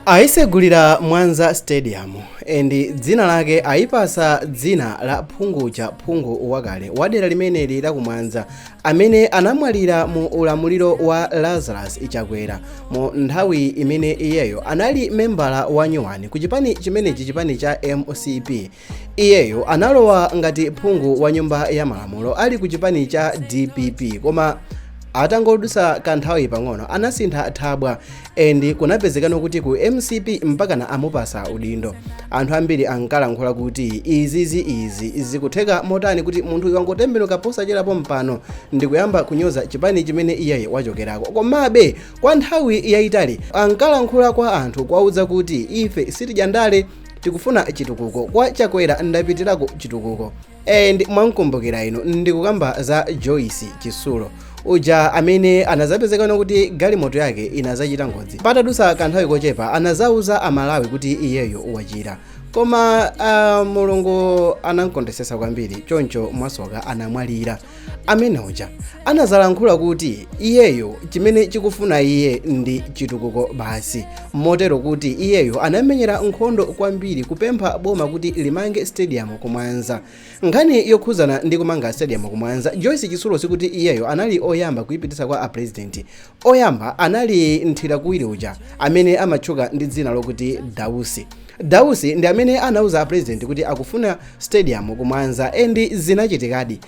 ayisegulira mwanza stadium and dzina lake ayipasa dzina la phungu cha phungu wakale wa dera limeneli la kumwanza amene anamwalira mu ulamuliro wa lazarus chakwera mu nthawi imene iyeyo anali membala wanyuwani ku chipani chimenechi chipani cha mcp iyeyo analowa ngati phungu wa nyumba ya malamulo ali ku chipani cha dpp koma atangodutsa kanthawi pang'ono anasintha thabwa and kunapezekana kuti ku mcp mpakana amupasa udindo anthu ambiri ankalankhula kuti izizi izi zikutheka motani kuti munthu uyu wangotembenuka posachedwapa pano ndikuyamba kunyoza chipani chimene iyeyi wachokerako komabe kwa nthawi yayitali ankalankhula kwa anthu kuwauza kuti ife sitidya ndale tikufuna chitukuko kwa chakwera ndapitirako chitukuko and mwamkumbukira inu ndikukamba za joyce chisulo uja amene anazapezekana kuti galimoto yake inazachita ngozi patadusa kanthawi kochepa anazauza amalawi kuti iyeyo wachira koma uh, mulungu anamkondesesa kwambiri choncho mwasoka anamwalira amene uja anazalankhula kuti iyeyo chimene akufuna iye ndi chitukuko basi motero kuti iyeyo anamenyera nkhondo kwambiri kupempha boma kuti limange stadium kumwanza nkhani yokhuzana ndi kumanga stadium kumwanza joyce chisulo sikuti iyeyo anali oyamba kuipitisa kwa a president Oyamba anali nthirakuwiri uja amene amatchuka ndi dzina lokuti Dausi. Dausi ndi amene anauza a president kuti akufuna stadium ku Mwanza and zinachitikadi.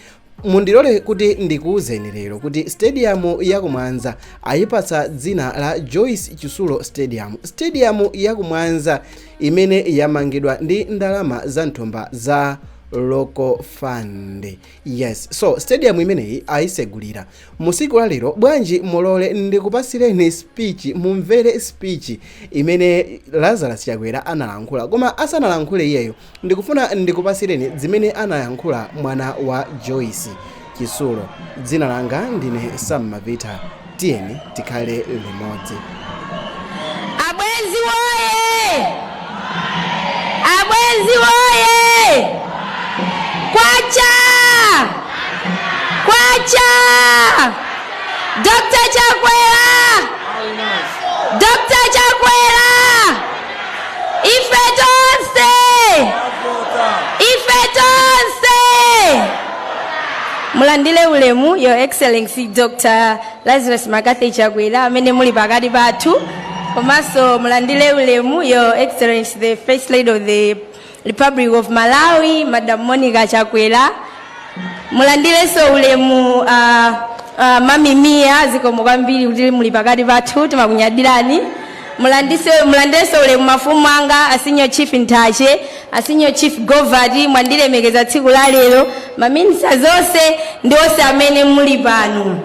Mundilole kuti ndikuuzeni lero kuti stadium ya ku Mwanza ayipatsa dzina la Joyce Chisulo Stadium. Stadium ya ku Mwanza imene yamangidwa ndi ndalama za mthumba za local fund. Yes so stadium imeneyi ayisegulira musiku la lero bwanji mulole ndikupasireni speech mumvere speech imene Lazarus Chakwera analankhula koma asanalankhule iyeyo ndikufuna ndikupasireni zimene analankhula mwana wa Joyce Chisulo dzina langa ndine Sam Mavita Tiyeni tikhale limodzi. Abwenzi woye! Abwenzi woye! Kwacha! Kwacha! Dr. Chakwera! Dr. Chakwera! Ife tonse! Ife tonse! mulandire ulemu your excellency dr lazarus mccarthy chakwera amene muli pakati pathu komanso mulandire ulemu your excellency the first lady of the republic of malawi madam monica chakwera mulandirenso ulemu uh, uh, mami mia zikomo kwambiri kuti muli pakati pathu timakunyadirani mulandirenso ulemu mafumu anga a senior chief nthache A Senior Chief Govati mwandilemekeza tsiku la lero, ma Ministers onse ndi onse amene muli pano.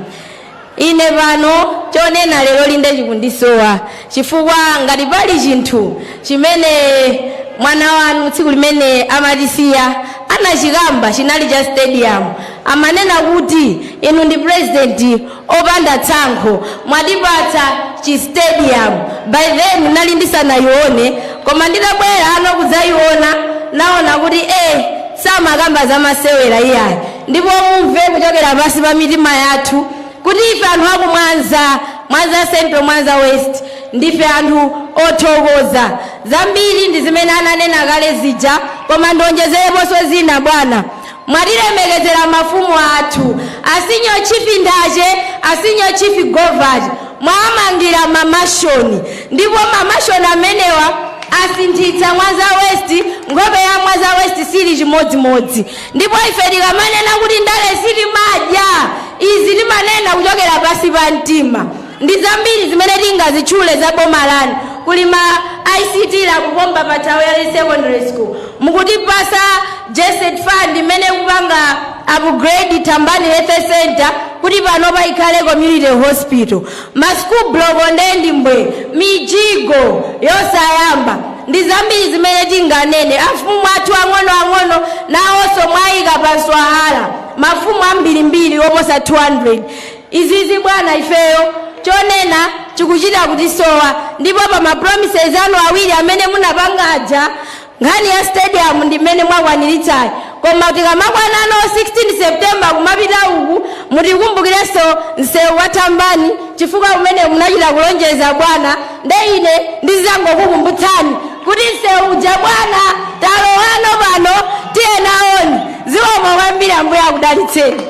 Ine pano chonena leroli nde chikundisowa chifukwa ngati pali chinthu chimene mwana wanu tsiku limene amatisiya anachikamba chinali cha stadium. Amanena kuti inu ndi President opanda tsankho mwatipatsa chi stadium by then nali ndisanayione koma nditabwera ano kudzayiona naona kuti eh samakamba za masewera iyayi ndipo mumve kuchokera pansi pa mitima yathu kuti ife anthu akumwanza mwanza central mwanza west ndife anthu othokoza zambiri ndi zimene ananena kale zija koma ndionjezereponso zina bwana Mwatilemekezera mafumu athu, a Senior Chief Nthache, a Senior Chief Govati, mwawamangira ma mansion ndipo ma mansion amenewa asinthitsa Mwanza West, nkhope ya Mwanza West siili chimodzimodzi ndipo ife tikamanena kuti ndale sitimadya, izi timanena kuchokera pansi pa mtima. Ndizambiri zimene tingazitchule za boma lanu kuli ma ICT lab pompa pa Thawale secondary school, mukutipasa GESD fund imene ikupanga upgrade Thambani health centre kuti panopa ikhale community hospital, ma school block nde ndi mbwee, mijigo yosayamba ndi zambiri zimene tinganene. Mafumu athu ang'ono ang'ono nawonso mwayika pa nswahala mafumu ambirimbiri oposa 200. Izizi bwana ifeyo chonena chikuchita kutisowa ndipo pa ma promises anu awiri amene munapanga aja nkhani ya stadium ndi mmene mwakwanilitsayi koma tikamakwanano 16 September kumapita uku mutikumbukirenso nsewu wa Thambani chifukwa umenewu munachita kulonjeza bwana nde ine ndizizangokukumbutsani kuti nsewu uja bwana talowano pano tiye nawoni zikomo kwambiri ambuye akudalitseni.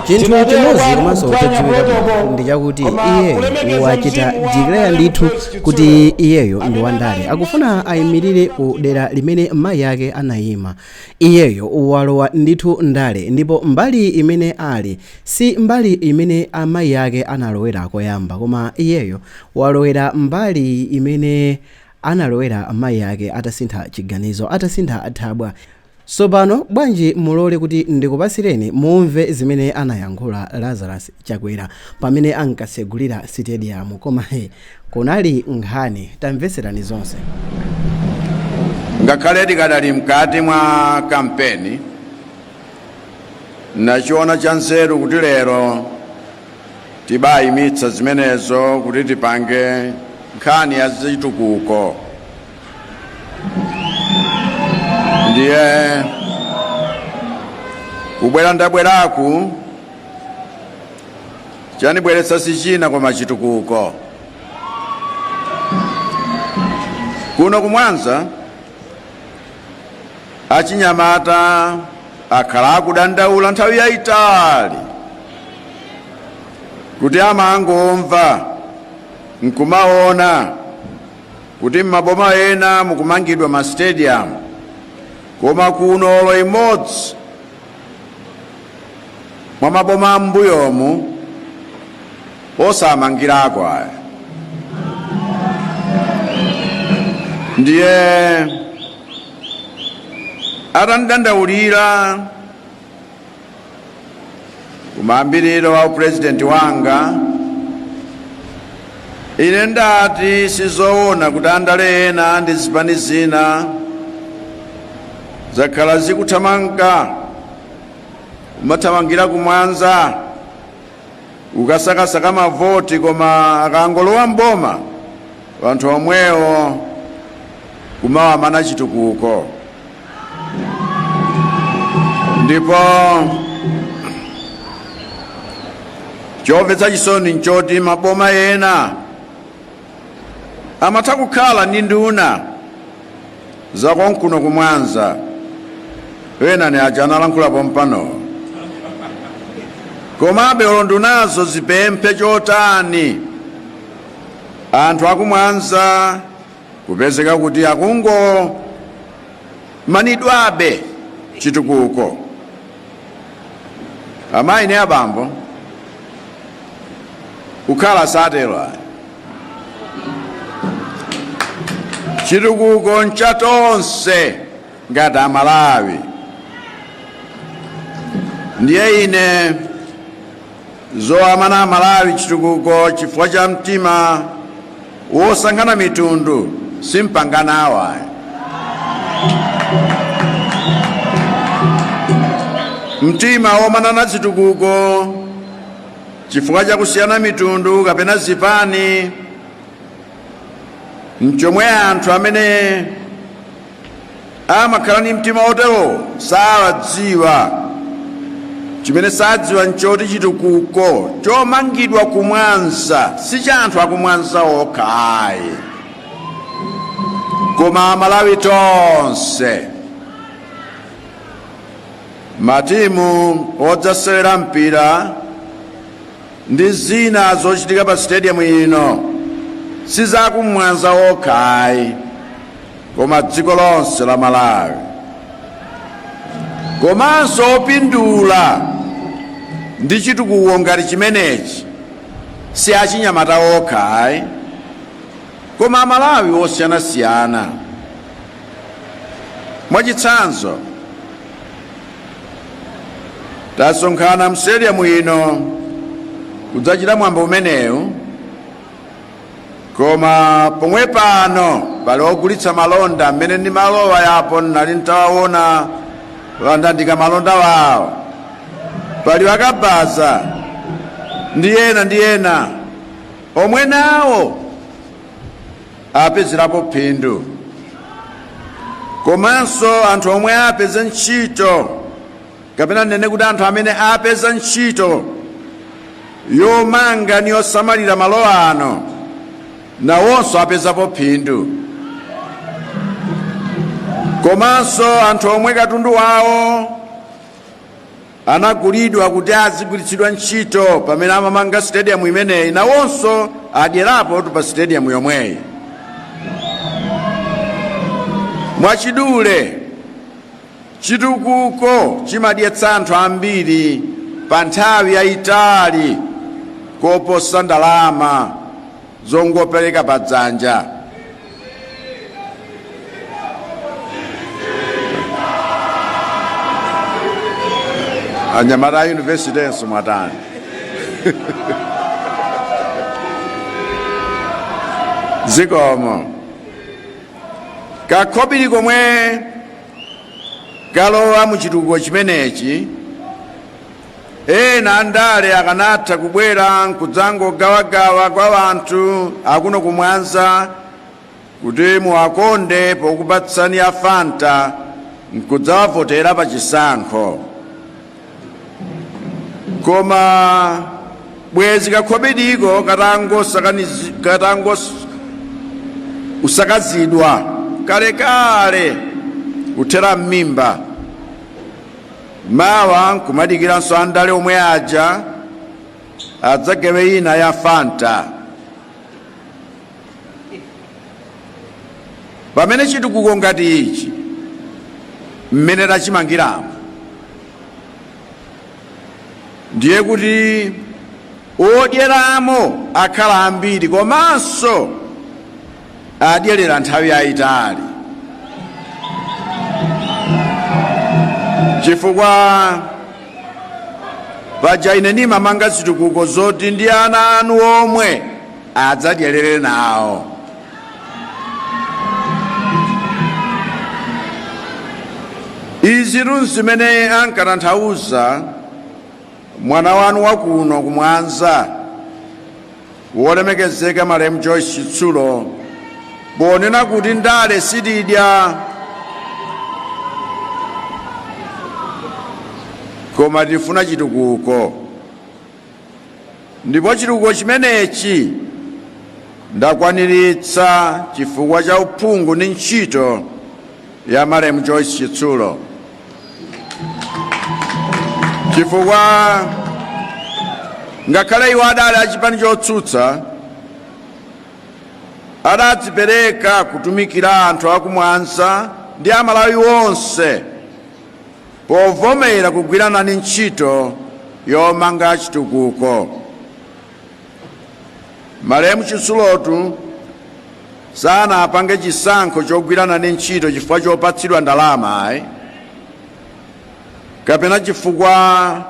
chinthu chimodzi komanso chodziwika ndi chakuti iye wachita declare ndithu kuti iyeyo ndi wandale akufuna ayimirire ku dera limene mayi ake anayima iyeyo walowa ndithu ndale ndipo mbali imene ali si mbali imene amayi ake analowera koyamba koma iyeyo walowera mbali imene analowera mayi ake atasintha chiganizo, atasintha thabwa. Tsopano bwanji mulole kuti ndikupatsireni mumve zimene anayankhula Lazarus Chakwera pamene ankatsegulira sitediyamu. Koma he, kunali nkhani. Tamvetserani zonse. Ngakhale tikadali mkati mwa kampeni, ndachiona chanzeru kuti lero, Tibayimitsa zimenezo kuti tipange nkhani ya zitukuko. Ndiye kubwera ndabweraku chandibweretsa sichina koma chitukuko. Kuno ku Mwanza Achinyamata akhala akudandaula nthawi yayitali kuti amangomva nkumaona kuti m'maboma ena mukumangidwa masitediyamu koma kuno olo imodzi mwa maboma am'mbuyomu osamangirako aya ndiye atandidandaulira kumayambiriro wa upurezidenti wanga ine ndati sizoona kuti andale ena ndi zipani zina zakhala zikuthamanga kumathamangira ku Mwanza kukasakasaka mavoti koma akangolowa m'boma wanthu omwewo kumawamana chitukuko ndipo chomvetsa chisoni nchoti maboma ena amatha kukhala ndi nduna zakonkuno ku Mwanza ena ndi aja analankhula pompano komabe olo ndunazo zipemphe chotani anthu aku Mwanza kupezeka kuti akungomanidwabe chitukuko amayi ndi abambo kukhala satero ayi chitukuko ncha tonse ngati Amalawi ndiye ine Zowamana aMalawi chitukuko chifukwa cha mtima wosankhana mitundu simpanganawo ayi. Mtima womanana zitukuko chifukwa cha kusiyana mitundu kapena zipani mchomwe anthu amene amakhala ndi mtima wotero sakudziwa chimene sadziwa nchoti chitukuko chomangidwa ku Mwanza si cha anthu aku Mwanza okha ayi koma aMalawi tonse matimu odzasewera mpira ndi zina zochitika pa sitediyamu ino si za ku Mwanza okha ayi koma dziko lonse la Malawi komanso opindula ndi chitukuko ngati chimenechi si achinyamata okha ayi koma aMalawi osiyanasiyana mwachitsanzo tasonkhana m'sitediyamu ino kudzachita mwambo umenewu Koma pomwe pano pali ogulitsa malonda mmene ndimalowa apo nnali ntawawona atandandika malonda wawo pali akabaza ndi ena ndi ena omwe nawo apezerapo phindu komanso anthu omwe apeze ntchito kapena tinene kuti anthu amene apeza ntchito yomanga ni yosamalira malo ano nawonso apezapo phindu komanso anthu omwe katundu wawo anagulidwa kuti azigwiritsidwa ntchito pamene amamanga stadium imeneyi nawonso adyerapotu pa stadium yomweyi mwachidule Chitukuko chimadyetsa anthu ambiri pa nthawi yayitali koposa ndalama zongopereka pa dzanja. Anyamata a yunivesiti enso mwatani. Zikomo. Kakobiri komwe kalowa mu chitukuko chimenechi ena andale akanatha kubwera nkudzangogawagawa kwa wanthu akuno ku Mwanza kuti muwakonde pokupatsani ya Fanta nkudzawavotera pa chisankho koma bwezi kakhobidiko katatangos- usakazidwa kalekale kuthera m'mimba mawa nkumadikiranso andale omwe aja adzagawe ina ya fanta pamene chitukuko ngati ichi mmene tachimangiramo ndiye kuti odyeramo akhala ambiri komanso adyerera nthawi yayitali chifukwa paja ine ndimamanga zitukuko zoti ndi ana anu omwe adzadyerere nawo. Izitu n'zimene ankatanthauza mwana wanu wakuno ku Mwanza wolemekezeka Malemu Joyce Chitsulo ponena kuti ndale sitidya koma tifuna chitukuko. ndipo chitukuko chimenechi ndakwaniritsa chifukwa cha uphungu ndi ntchito ya malemu Joyce Chitsulo chifukwa ngakhale iwo adali achipani chotsutsa adadzipereka kutumikira anthu aku Mwanza ndi amalawi onse povomera kugwira nane ntchito yomanga chitukuko. Malemu Chitsulotu sanapange chisankho chogwira nane ntchito chifukwa chopatsidwa ndalama ayi kapena chifukwa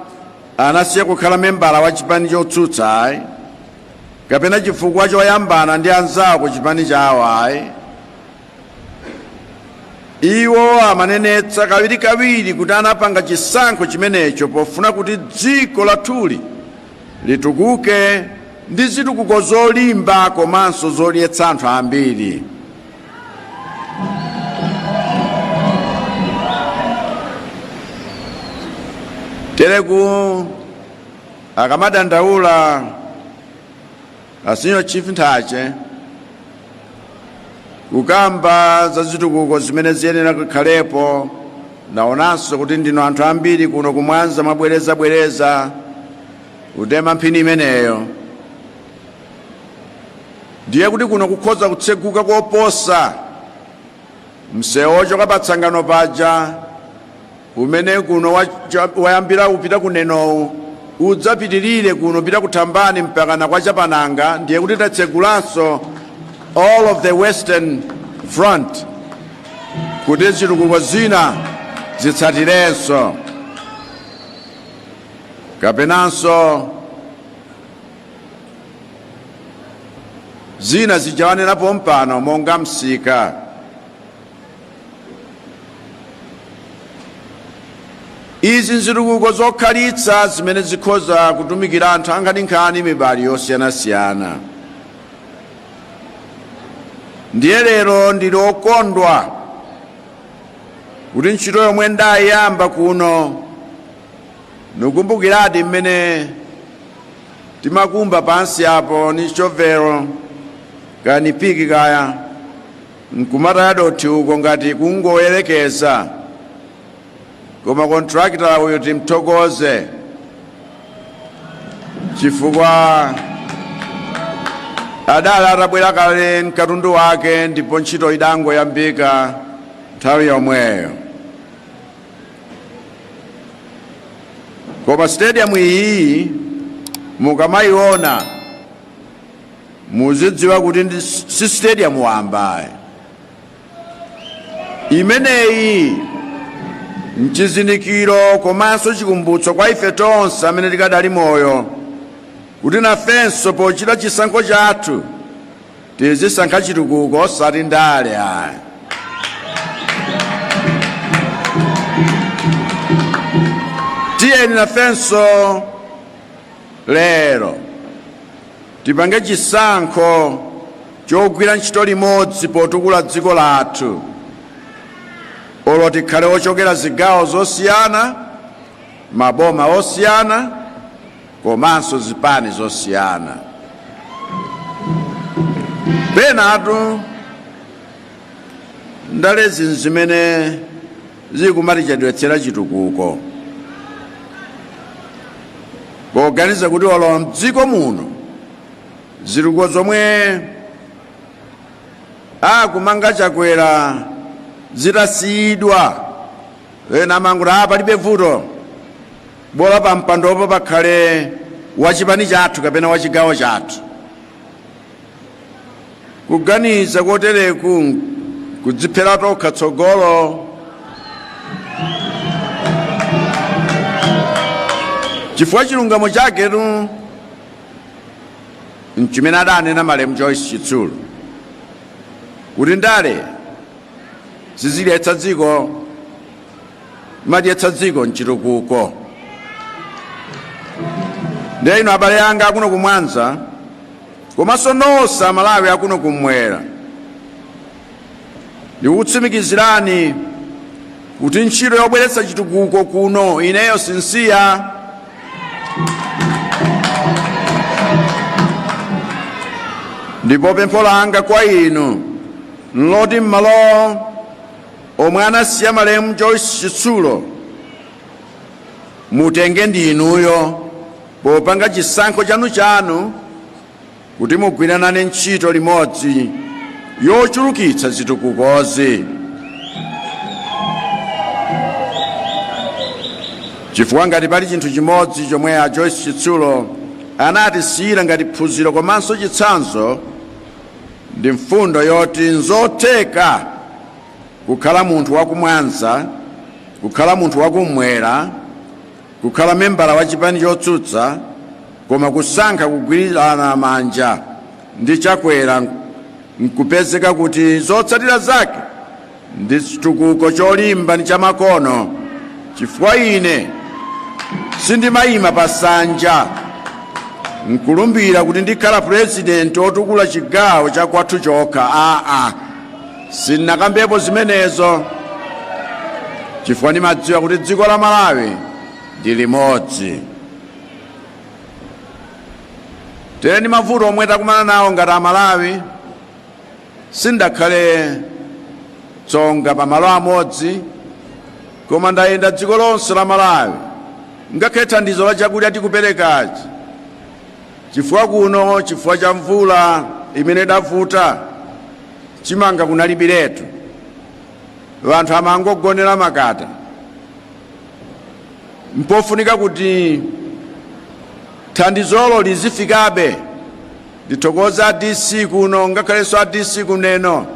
anasiya kukhala membala wa chipani chotsutsa ayi kapena chifukwa choyambana ndi anzawo ku chipani chawo ayi iwo amanenetsa kawirikawiri kuti anapanga chisankho chimenecho pofuna kuti dziko lathuli litukuke ndi zitukuko zolimba komanso zodyetsa anthu ambiri tereku akamadandaula a senior chief Nthache kukamba za zitukuko zimene ziyenera kukhalepo ndaonanso kuti ndinu anthu ambiri kuno ku Mwanza mwabwerezabwereza kutema mphini imeneyo ndiye kuti kuno kukhoza kutseguka koposa msewu wochoka pa Tsangano paja Umene kuno wayambira upita ku Nenowo udzapitirire kuno kupita ku Thambani mpakana kwa Chapananga, ndiye kuti tatsegulanso all of the western front kuti zitukuko zina zitsatirenso kapenanso zina zijawanenapo pompano monga msika izi nzitukuko zokhalitsa zimene zikhoza kutumikira anthu ankhaninkhani mibali yosiyanasiyana ndiye lero ndili okondwa kuti ntchito yomwe ndayiyamba kuno nikukumbukiradi mmene timakumba pansi apo ni chovelo kani piki kaya Nkumataya dothi uko ngati kungoyelekeza koma kontrakita uyu timthokoze chifukwa adali atabwera kale mkatundu wake ndipo ntchito idangoyambika nthawi yomweyo koma stadium iyi mukamayiona muzidziwa kuti si stadium wambayi imeneyi nchizindikiro komanso chikumbutso kwa ife tonse amene tikadali moyo kuti nafenso pochita chisankho chathu tizisankha chitukuko osati ndale ayi tiyeni nafenso lero Tipange chisankho chogwira ntchito limodzi potukula dziko lathu. Olo tikhale ochokera zigawo zosiyana, maboma osiyana komanso zipani zosiyana. Penatu ndalezi n'zimene zili kumatichedwetsera chitukuko poganiza kuti olo mdziko muno zitukuko zomwe akumanga chakwera zitasiyidwa ena amanguti a palibe vuto bola pa mpandopo pakhale wachipani chathu kapena wachigawo chathu kuganiza kotereku nkudziphera tokha tsogolo chifukwa chilungamo chaketu nchimene adanena malemu joyce chitsulo kuti ndale sizidyetsa dziko madyetsa dziko mchitukuko ndiye inu abale anga akuno kumwanza komanso nonse amalawi akuno kumwera ndikukutsimikizirani kuti ntchito yobweretsa chitukuko kuno ineyo sinsiya ndipo pempho langa kwa inu nloti m'malo omwe anasiya malemu Joyce Chitsulo mutenge ndi inuyo popanga chisankho chanu chanu kuti mugwiranane ntchito limodzi yochulukitsa zitukukozi chifukwa ngati pali chinthu chimodzi chomwe a Joyce Chitsulo anatisiyira ngati phunziro komanso chitsanzo ndi mfundo yoti n'zotheka kukhala munthu wa ku Mwanza, kukhala munthu wa kummwera, kukhala membala wa chipani chotsutsa koma kusankha kugwirana manja ndi Chakwera n'kupezeka kuti zotsatira zake ndi chitukuko cholimba ndi chamakono chifukwa ine sindimayima pa sanja nkulumbira kuti ndikhala purezidenti otukula chigawo cha kwathu chokha aa sindinakambepo zimenezo chifukwa ndimadziwa kuti dziko la malawi ndi limodzi tere ndi mavuto omwe takumana nawo ngati amalawi sindakhale tsonga pa malo amodzi koma ndayenda dziko lonse la malawi ngakhale thandizo la chakudya tikuperekachi chifukwa kuno chifukwa cha mvula imene idavuta chimanga kunalibiretu wanthu amangogonera makata mpofunika kuti thandizolo lizifikabe Ndithokoza a DC kuno ngakhalenso a DC ku Neno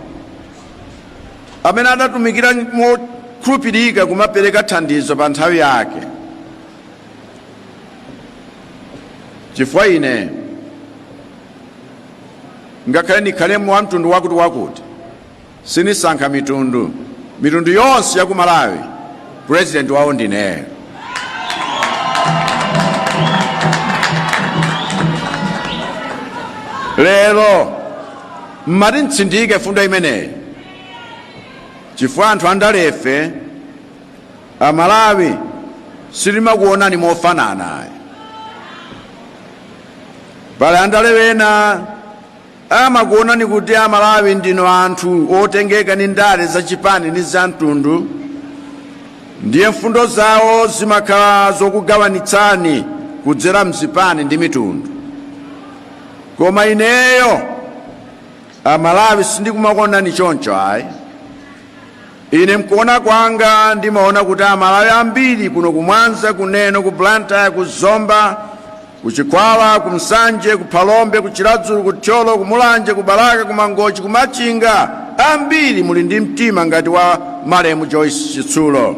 amene adatumikira mokhulupirika kumapereka thandizo pa nthawi yake, chifukwa ine ngakhale ndikhalemo wa mtundu wakuti wakuti Sinisankha mitundu, mitundu yonse ya ku Malawi president wawo ndine. Lero mmati ntsindike mfundo imeneyi chifukwa anthu andalefe amalawi sitimakuonani mofanana pali andale ena Amakuonani kuti a Malawi ndinu anthu otengeka ndi ndale za chipani ndi za mtundu ndiye mfundo zawo zimakhala zokugawanitsani kudzera mzipani ndi mitundu. Koma ineyo a Malawi sindikumakuonani choncho ayi. Ine mkuona kwanga ndimaona kuti a Malawi ambiri kuno ku Mwanza, ku Neno, ku Blantyre, ku Zomba, Ku Chikhwawa, ku Nsanje, ku Phalombe, ku Chiradzulu, ku Thyolo, ku Mulanje, ku Balaka, ku Mangochi, ku Machinga, ambiri muli ndi mtima ngati wa malemu Joyce Chitsulo,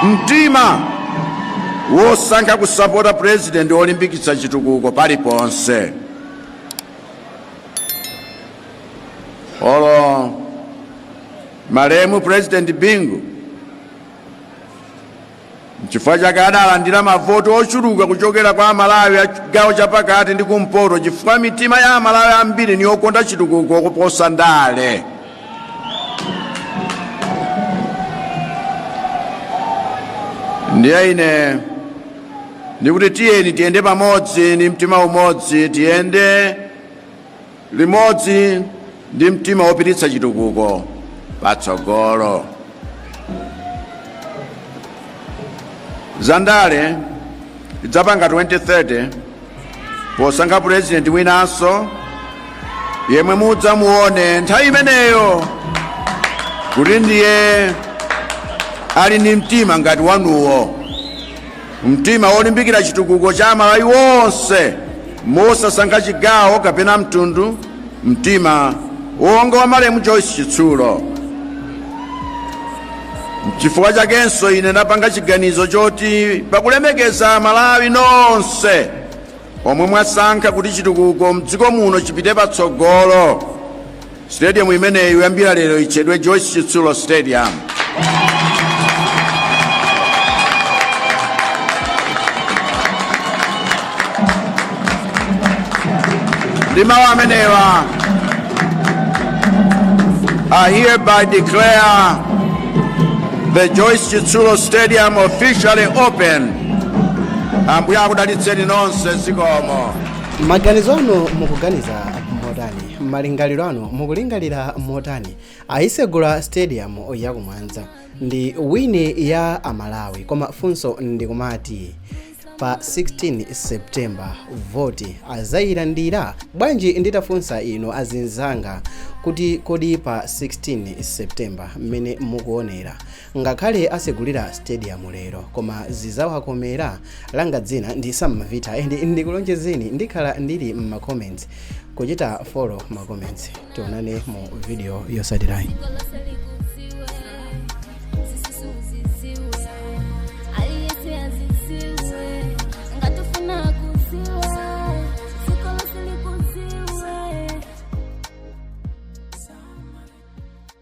mtima wosankha kusapota purezidenti wolimbikitsa chitukuko paliponse. Olo malemu purezidenti Bingu Nchifukwa chake adalandira mavoti ochuluka kuchokera kwa Amalawi a chigawo chapakati ndi kumpoto chifukwa mitima ya Amalawi ambiri ni yokonda chitukuko kuposa ndale. Ndiye ine ndikuti tiyeni tiyende pamodzi ndi mtima umodzi tiyende limodzi ndi mtima wopititsa chitukuko patsogolo zandale tidzapanga 2030 posankha purezidenti winanso yemwe mudzamuone nthawi imeneyo kuti ndiye ali ndi mtima ngati wanuwo Mtima wolimbikira chitukuko cha Amalawi onse mosasankha chigawo kapena mtundu, mtima wonga wa malemu Joyce Chitsulo. N'chifukwa chakenso ine ndapanga chiganizo choti pakulemekeza Amalawi nonse omwe mwasankha kuti chitukuko m'dziko muno chipite patsogolo, Stadium imeneyi kuyambira lero itchedwe Joyce Chitsulo Stadium. Ndi mawu amenewa I hereby declare the Joyce Chitsulo Stadium officially open. Ambuye akudalitseni nonse zikomo. maganizo anu mukuganiza motani malingaliro anu mukulingalira motani ayisegula stadium ya ku Mwanza ndi wini ya amalawi koma funso ndikumati pa 16 september voti azayilandira bwanji nditafunsa inu azinzanga kuti kodi pa 16 september mmene mukuonera ngakhale asegulira stadium lero koma zizawakomera langa dzina ndi samavita and ndikulonjezeni ndikhala ndili mma comments kuchita follow ma comments tionane mu video yotsatirayi